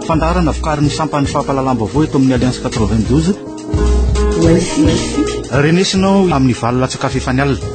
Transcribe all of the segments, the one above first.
fandaharana vokarin'ny sampan'ny fampahalalam-baovao eto amin'ny alliance 92 renesinao amin'ny valo latsaka fefany alina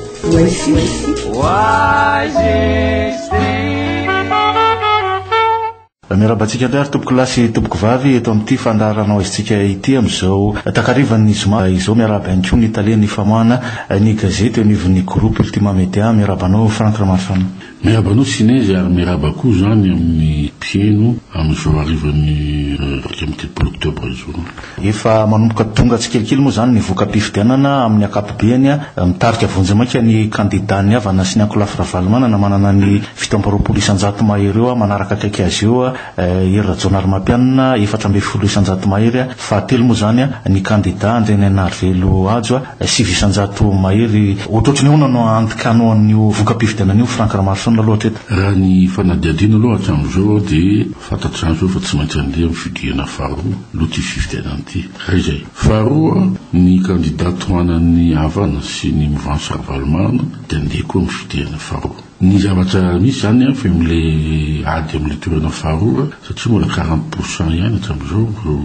Miarahaba antsika indray ary tompoko lahy sy tompoko vavy eto amin'ity fandaharanao aizintsika ity amin'izao takarivan'ny zoma izao. Miarahaba ihany koa ny talen'ny famoahana ny gazety eo anivon'ny groupe Ultima Media. Miarahaba anao Franck Ramarifano. Miarahaba anao Sinezy ary miarahaba koa izany amin'ny mpiheno amin'izao harivan'ny iraika amby telopolo oktobra izao. Efa manomboka tonga tsikelikely moa izany ny voka-pifidianana amin'ny ankapobeany. Mitarika vonjy maika ny kandidàn'ny havana sy ny ankolafy Ravalomanana manana ny fito amby roapolo isan-jato mahery eo manaraka akaiky azy eo Hery Rajaonarimampianina, efatra ambin'ny folo isan-jato mahery, fahatelo moa izany ny kandidà Andrianainarivelo Hajo, sivy isan-jato mahery. Ohatrohatry ny ahoana no andikànao an'io voka-pifidianana io Franck Ramaroson aloha hatreto? Raha ny fanadihadiana aloha hatramin'izao dia. Fantatr'izany izao fa tsy maintsy handeha amin'ny fidirana faharoa aloha ity fifidianana ity. Raha izay. Faharoa, ny kandida tohanan'ny Havana sy ny Movansy Ravalomanana dia handeha koa amin'ny fidirana faharoa. Ny zavatra misy izany an, fa eo amin'ilay ady amin'ilay toerana faharoa, satria mbola quarante pour cent ihany hatramin'izao ireo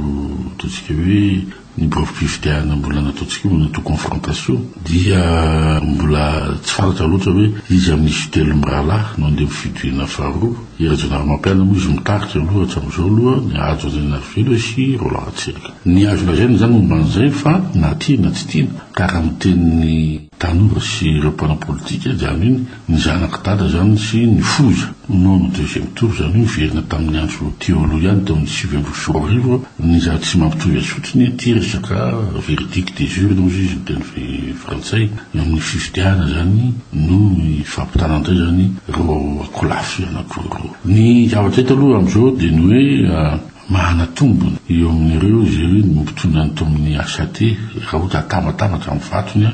ataontsika hoe, Ny biraom-pifidianana mbola nataontsika io natao confrontation dia mbola tsy fantatra loatra hoe iza amin'ny izy telo mirahalahy no handeha amin'ny fitoriana faharoa. I Rajaonarimampianina moa izy mitarika aloha hatramin'izao aloha, ny Hajo Andrianarivelo sy Roland Ratsiraka. Ny azo lazaina izany momba an'izay fa na tiana na tsy tiana ka raha ny tenin'ny. Tanora sy ireo mpanao politika izany hoe ny zanak'i Dada izany sy ny foza. Noho ny deuxième tour izany hoe niverina tamin'ny andro teo aloha ihany teo amin'ny sivy ambin'ny folo arivo ny zava tsy mampitovy azy fotsiny ity resaka verdict des urnes hozy izy miteny frantsay eo amin'ny fifidianana izany no hifampitana indray izany ireo akolafy anakiroa ireo. Ny zavatra hita aloha amin'izao dia ny hoe Mahana tombony eo amin'ireo izay hoe ny mpitondra ny tao amin'ny HAT raha ohatra atambatambatra ny vatony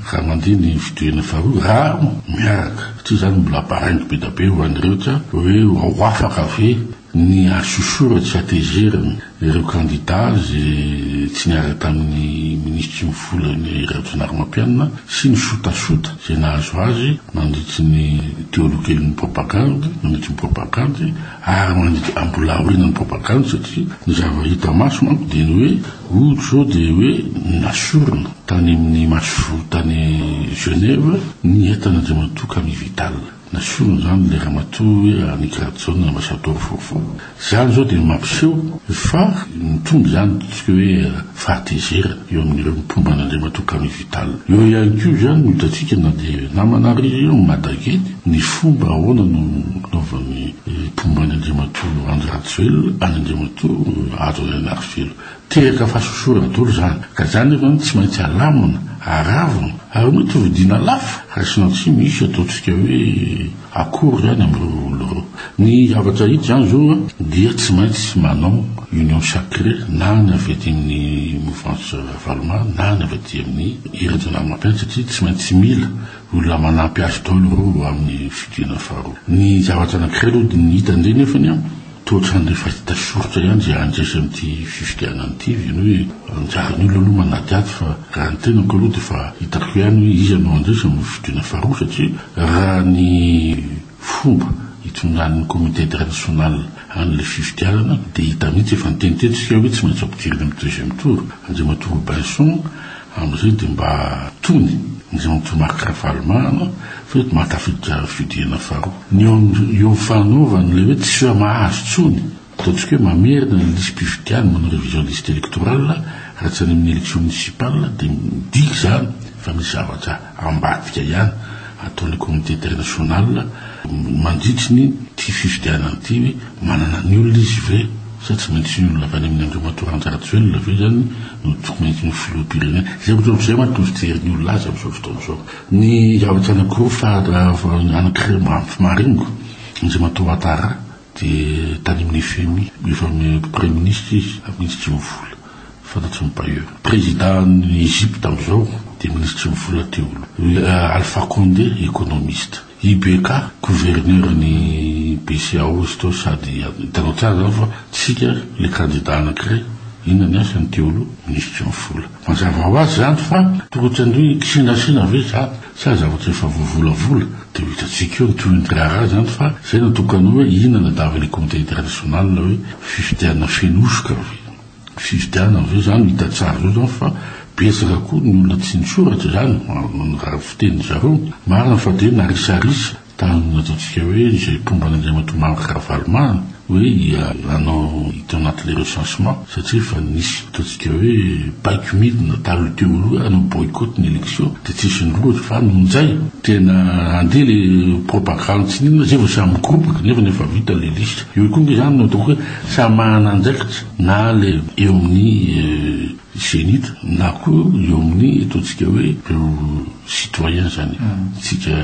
raha mandeha ny fitohiana faharoa raha miaraka satria izany mbola baraingo be dia be ho an'ny rehetra hoe ho afaka ve ny hasosorany sy hatezerany ireo kandida izay tsy niaraka tamin'ny minisitry ny vola ny Rajaonarimampianina sy ny sotasota izay nahazo azy nandritry ny teolokelin'ny propagandy nandritry ny propagandy Ary mandidy ambolahoriana ny propagande satria ny zava hita maso manko dia ny hoe oul zao dia hoe nasorina tany amin'ny maso tany Genève ny entana andriamatoa Camille Vital. Nasorina izany ilay ramatoa hoe Annick Radson ambassador vaovao. Izany izao dia mampiseho fa mitombo izany ny hoe fahatezerana eo amin'ireo mpomba an'andriamatoa Camille Vital. Hôpital. Eo ihany koa izany no hitantsika na dia namana ry io Madageny ny fomba ahoana no nanaovan'ny mpomba an'i Andriamatoa Andry Rajoelina an'i Andriamatoa Hajo Rainarivelo. Teraka fahasosorana daholo izany ka izany nefa no tsy maintsy alamina, aravona ary mety hovidiana lafo raha tsy nantsy misy ataontsika hoe Akory izany amin'ireo olona ireo. Ny zavatra hita izany izao dia tsy maintsy manao union sacrée na ny avy aty amin'ny mouvance Ravaloman na ny avy aty amin'ny Hery Andrianarimampin satria tsy maintsy mila olona manampy azy daholo ireo amin'ny fidiana faharoa. Ny zavatra anankiray aloha ny hita indray nefany Toa ohatran'ny efa hita soritra ihany izay handresy amin'ity fifidianana ity ve ny hoe anjaran'ny olona aloha manadihady fa raha ny tenako aloha dia efa hitako ihany hoe iza no handresy amin'ny fidiana faharoa satria raha ny fomba itondrany comité international an'ilay fifidianana dia hita mihitsy efa niteny teto isika hoe tsy maintsy ampidirina amin'ny deuxième tour Andriamatoa Robinson Amin'izay dia mba tony ny Jeantou Marc Ravalomanana fa eto maka fidihana faharoa. Ny eo fanaovany ilay hoe tsy hoe mahazo intsony, ataontsika hoe mamerina ny lisi-pifidianana, manao révision liste électorale raha tsy any amin'ny élection municipale dia midika izany fa misy zavatra ambadika ihany ataon'ny comité international mandritry ny ity fifidianana ity hoe manana ny olona izy ve sa tsy maintsy ny olona avy any amin'ny Andriamatoa Randja Rajoelina ve izany no tsy maintsy ho filoham-pirenena. Izay ohatr'izay manko no fijery ny olona azy amin'izao fotoana izao. Ny zavatra anakiroa fa anakiray maharingo, Andriamatoa Ouattara, Dia tany amin'ny fmi, efa praiminisitra izy amin'ny tsy mivola, fantatry ny bailleurs. Prezidan'ny Egypte amin'izao dia minisitry ny vola teo aloha, Alpha Condé, ekonomista. IBK, gouverneuran'ny BCEAO izy teo sady hitanao tsara izany fa tsika ilay kandida anankiray, inona ny asany teo aloha, minisitry ny vola. Mazava ho azy izany fa tokony tsy handoa hoe kisinasina ve izany. Tsy aza zavatra efa voavolavola dia ho hitantsika eo ny tohin'ny raharaha izany fa izay no tokony hoe inona no davin'ny comité international hoe fifidianana feno hosoka ve? Fifidianana ve izany no hita tsara zao izany fa betsaka koa ny olona tsy nisoratra izany, ny fitenin'izareo. Marina fa dia narisarisa Tany nataontsika hoe izay mpomba an'Andriamatoa Marc Ravalomanana hoe hanao hita anaty le recensement satria efa nisy ataontsika hoe baiko midina taloha teo aloha hoe hanao boycott ny election dia tsy hisy nirohotra fa noho izay tena handeha le propagande tsy n'inona izay vao samy migoboka nefa ny efa vita le liste eo koa nge izany no ataoko hoe samy manana andraikitra na le eo amin'ny zenith na koa eo amin'ny ataontsika hoe Citoyen izany tsika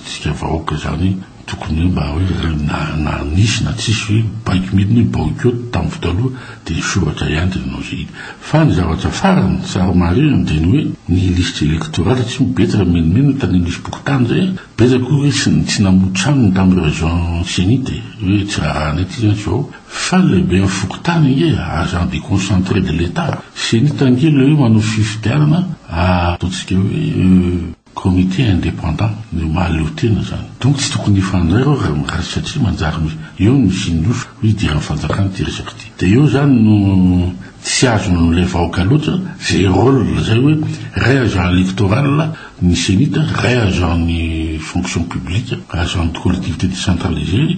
tsika vahoaka izany tokony hoe mba hoe na na nisy na tsisy hoe baiko midina hoe boycott tamin'ny fotoa aloha dia nisoratra ihany dia nanao izay izy fa ny zavatra farany tsara marihina dia ny hoe ny liste électorale tsy ho betsaka minomino tany amin'ny fokontany izay betsaka koa hoe tsy tsy namoa tranony tamin'ny raison zenith hoe tsy raha raha anay ity izany izao Fa lehiben'ny fokontany ange agent deconcentre de l'Etat, cenit ange le hoe manao fifidianana ataontsika hoe comité indépendant ny mahaleo tena zany. Donc tsy tokony hifandray reo raha raha satria manjary eo no hisian'ny hoso hoy idiran'ny fanjakana ity resaka ity. Dia eo zany no tsy azon'ilay vahoka loatra zay rôle zay hoe ray agent electoral Ny Cenit, vrai agent ny fonction publique, agent de collectivité décentralisée,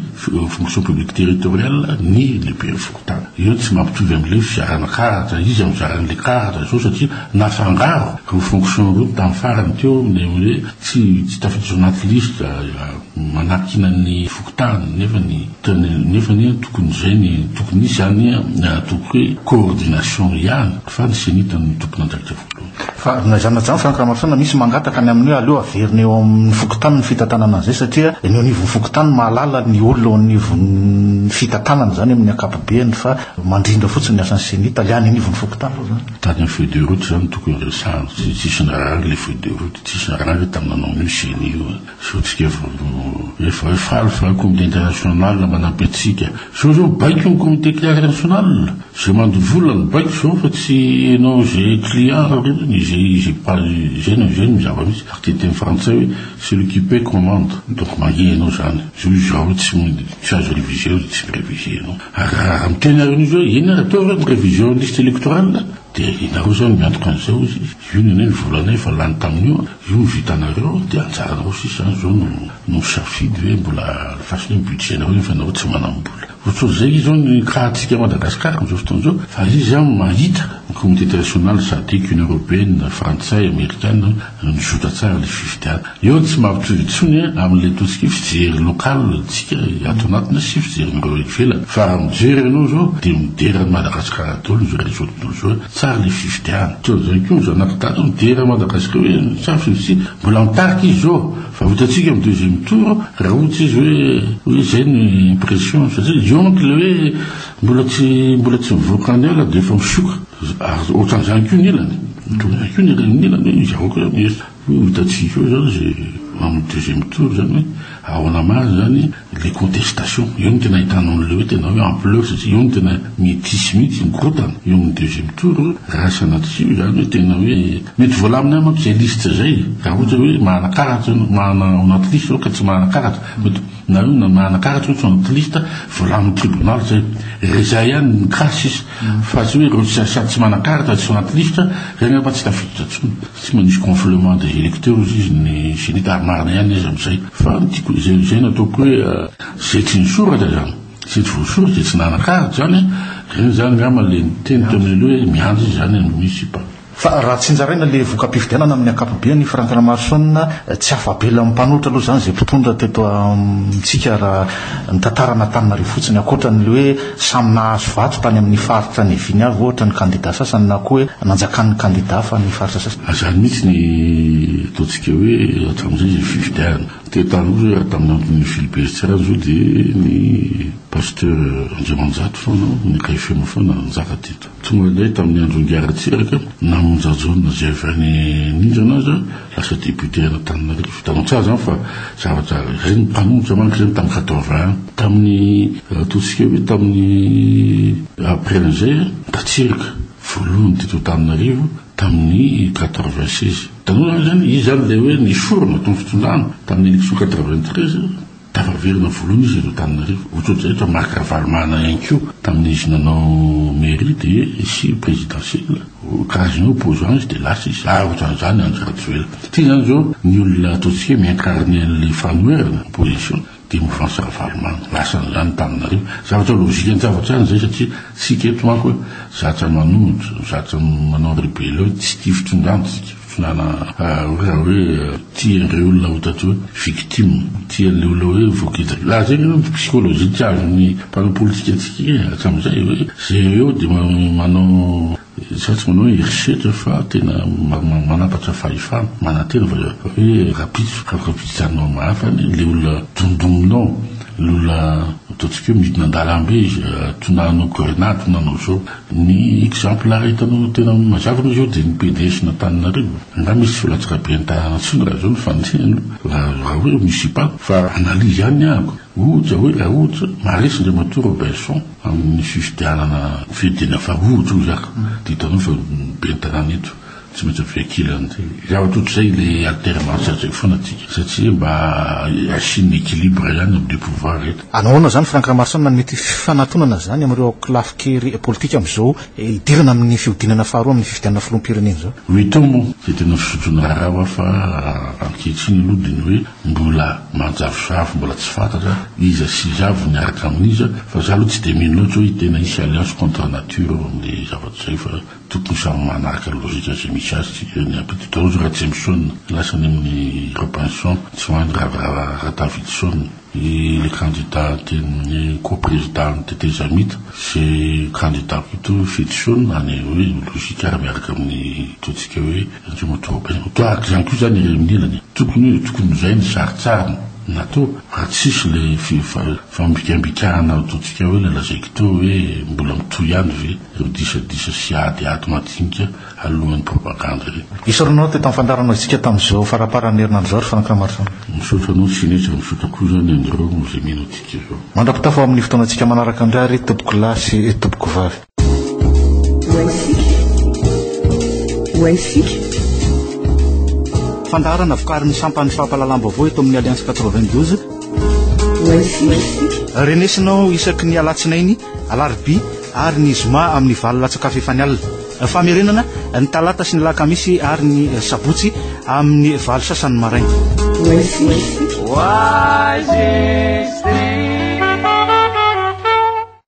fonction publique territoriale, ny lehiben'ny fokontany. Io tsy mampitovy amin'ilay fizarana karatra, izy amin'ny fizarana ilay karatra izao satria nafangaro ireo fonction ireo tamin'ny farany teo ilay hoe tsy tsy tafiditra ao anaty lisitra manakiana ny fokontany nefa ny tena nefa anie tokony izay ny tokony hisy izany tokony hoe coordination ihany fa ny Cenit no tompon'andraikitra voalohany. Fa na izany na izany Franck Ramarosaina misy mangataka ny amin'ny hoe aleo averina eo amin'ny fokontany ny fitantanana an'izay satria ny eo anivon'ny fokontany mahalala ny olona eo anivon'ny fitantanana izany amin'ny ankapobeny fa mandrindra fotsiny ny asan'ny ceni tale any anivon'ny fokontany aloha izany. Tany amin'ny feuille de route izany no tokony resahana, tsy tsisy narary ilay feuille de route, tsisy narary tamin'ny nanao an'io ceni io. Sao tsika voaloha efa hoe faly fa comité international manampy antsika. Sao zao baiko ny comité international? Zay mandoa vola no baiko zao fa tsy enao zay client raholdana e, zay zay mpal zay no zay no zava misy. Ary dia teny frantsay hoe celui qui paie commande. Donc mangehy enao zany. Zao izaho hoe tsy tsy azo reviser zao tsy mi-reviser enao. Ary raha raha miteny ary enao zao hoe inona ary atao raha mi-reviser ny liste electorale? Dia ianareo zany miantoka an'izao izy. Io ny anay ny volanay efa lany tamin'io, io ny vitanareo dia anjaranareo sisa an, zao no no misafidy hoe mbola alefaso ny budget-nareo nefa ianareo tsy manam-bola. Ohatr'ohatry izay izy zao ny cas-ntsika à Madagascar amin'izao fotoana izao fa izy an mahita ny communauté internationale, Sadc, Union Européenne, Frantsay, Amerikana, mizotra tsara ilay fifidianana. Eo tsy mampitovy intsony amin'ilay tosika hoe fijery local tsika ato anatiny sy fijerin'ireo ivelany fa raha mijery ianao zao dia midera an'i Madagasikara daholo izao rehetra ohatran'izao zao hoe tsary ilay fifidianana. Ohatran'izany koa ny zanak'i Dato midera an'i Madagasikara hoe tsary fifidianana mbola mitarika izy zao fa vitantsika amin'ny deuxième tour raha ohatra izy hoe hoe izay no impression satria eo manko ilay hoe mbola tsy mbola tsy mivoaka any ala dia efa misioka ary ohatran'izany koa ny ilany. Ohatran'izany koa ny ilany hoe izy ireo koa mihesotra. Koa hitantsika eo zany ze amin'ny deuxième tour zany hoe aona marina zany le contestation, eo no tena ahitanao anle hoe tena hoe ampleur satria eo no tena metisy mihitsy mikorontana eo amin'ny deuxième tour raha sanatria hoe zany hoe tena hoe mety voalamina ihany manko zay liste zay raha ohatra hoe manana karatra ianao manana ao anaty liste ianao ka tsy manana karatra mety nareo na manana karatra ianao tsy ao anaty liste voalamin'ny tribunal zay re zay ihany no cas sisa fa tsy hoe reo sady tsy manana karatra tsy ao anaty liste zay angamba tsy tafiditra intsony. Tsy manisy gonflement des électeurs izy ny CENI-T ary marina ihany izy amin'izay. Fa ny tiako, izay izay no ataoko hoe izay tsy nisoratra izany, izay tsy voasoratra dia tsy nanan-karitra izany an! Dia izany angamba ilay niteny teo amin'ny hoe miandry izy izany ny MISIPA. Fa raha tsinjaraina ilay voka-pifidianana amin'ny ankapobeany i Franck Ramaroson, tsy afa-belan'ny mpanohitra aloha izany izay mpitondra teto amintsika raha ny tantara an'Antananarivo fotsiny, ankoatra an'ilay hoe, Samy nahazo vato tany amin'ny faritra niaviany avy ohatra ny kandida sasany na koa hoe nanjakan'ny kandida hafa ny faritra sasany. Izany mihitsy ny ataontsika hoe hatramin'izay ny fifidianana. Teo taloha hoe tamin'ny andron'ny Philibert Tsiranana izao dia ny Pasteur Andriamanjato foana, ny Kay Feno foana no nanjaka teto. Tonga indray tamin'ny andro ingaran-tsiraka, na monja Jona izay avy any Nizana aza, lasa député any Antananarivo. Hitanao tsara izany fa zavatra, ireny ny mpanohitra manko ireny tamin'ny quatorze ans. Tamin'ny, ataontsika hoe tamin'ny après an'izay, Ratsiraka, voalohany teto Antananarivo tamin'ny quatre-vingt-seize. Hitanao izany izany? Izy izany ilay hoe niforona tao amin'ny fitondrana tamin'ny élection quatre-vingt-treize. Tafaverina voalohany izy eto Antananarivo. Ohatr'ohatry izay eto Marc Ravalomanana ihany koa tamin'ny izy nanao mairie dia nisy présidentiel, karazana hoe opposant izy dia lasa izy. Ary ohatran'izany Andry Rajoelina. Satria izany izao ny olona ataontsika hoe mi-incarner an'ilay fanoherana, opposition, dia mouvance Ravalomanana. Lasa an'izany Antananarivo. Zavatra logique ny zavatra ihany izay satria isika eto manko zatra manohitra, zatra manao rébellion, tsy tia fitondran-tsika. Filana raha hoe tia ireo olona ho tatỳ hoe victime, tia ny olona hoe voakitika. Raha izay angamba ny psychologie tsy azon'ny mpanao politika antsika e, hatramin'izay hoe jereo dia manao izaho tsy manao hoe herisetra fa tena manapatra fahefana, manantena fa hoe rahampitso, afaka ampiditanao amin'ny hafa anie ilay olona dondongonao, ilay olona ataontsika hoe midina an-dalambe izy, tonanao grenady, tonanao izao. Ny exemplaire hitanao no tena mazava aloha zao dia ny PDS n'Antananarivo. Angaha misy tsy latsaka be any tanàna tsony raha zao no fandinihana raha raha hoe misipako fa analyse ihany ny anako. Ohatra hoe raha ohatra maharesy Andriamatoa Roberson amin'ny fifidianana fifidiana faha ohatra hoy zaka dia hitanao fa be ny tanàna eto. Tsy maintsy avy ankilany ty. Zavatra ohatr'izay ilay alternance lazaiko foana atsika satria mba hasian'ny equilibre ihany amin'ny pouvoir eto. Anahoana izany Franck Ramarsana ny mety fifanatonana izany amin'ireo aokilafikery politika amin'izao hidirana amin'ny fihodinana faharoa amin'ny fifidianana filoham-pirenena izao? Oui to moa dia tena fizotry ny raharaha va fa ankehitriny aloha dia ny hoe mbola manjavozavo mbola tsy fantatra iza sy iza avy miaraka amin'iza fa za aloha tsy dia mino loatra hoe tena hisy alliance contre nature amin'ilay zavatra izay fa Tokony samy manaraka ny logika izay misy azy tsika eny apititra ozy Ratsimisoan lasa any aminy Robinson tsy hoany ravirava Ratavitson i le kandida teny ko prezida ny tetezamita ze kandida ko to Fetison any oe logika ary miaraka aminy to tsika oe Andriamatoa Robinson to araka izany ko zany i Reminila ny tokony oe tokony zay ny saritsarin nato raha tsisy le fifambikambikarana to tsika oe le lazaiko to oe mbola mitohy ihany ve ireo disadisa sy ady ady madinika aloloman'ny propagande ireny. Isaorana anao teto amin'ny fandaharanao isika tamin'izao faramparan'ny herinandro izao ry Franck Ramarison. Misaotra anao Sinetra, misaotra koa izany anareo izay mino antsika izao. Mandra-pitafa ho amin'ny fotoanantsika manaraka indray ary tompoko lahy sy tompoko vavy. Ho antsika, ho antsika. Fandaharana vokarin'ny sampan'ny fampahalalam-baovao eto amin'ny Alliance 92. Ho antsika. Renesinao isaky ny alatsinainy, alarobia, ary ny zoma amin'ny valo latsa-kafa efa ny alina. Famerenana ny talata sy ny lakamisy ary ny sabotsy amin'ny valo sasany maraina. Wisest thing.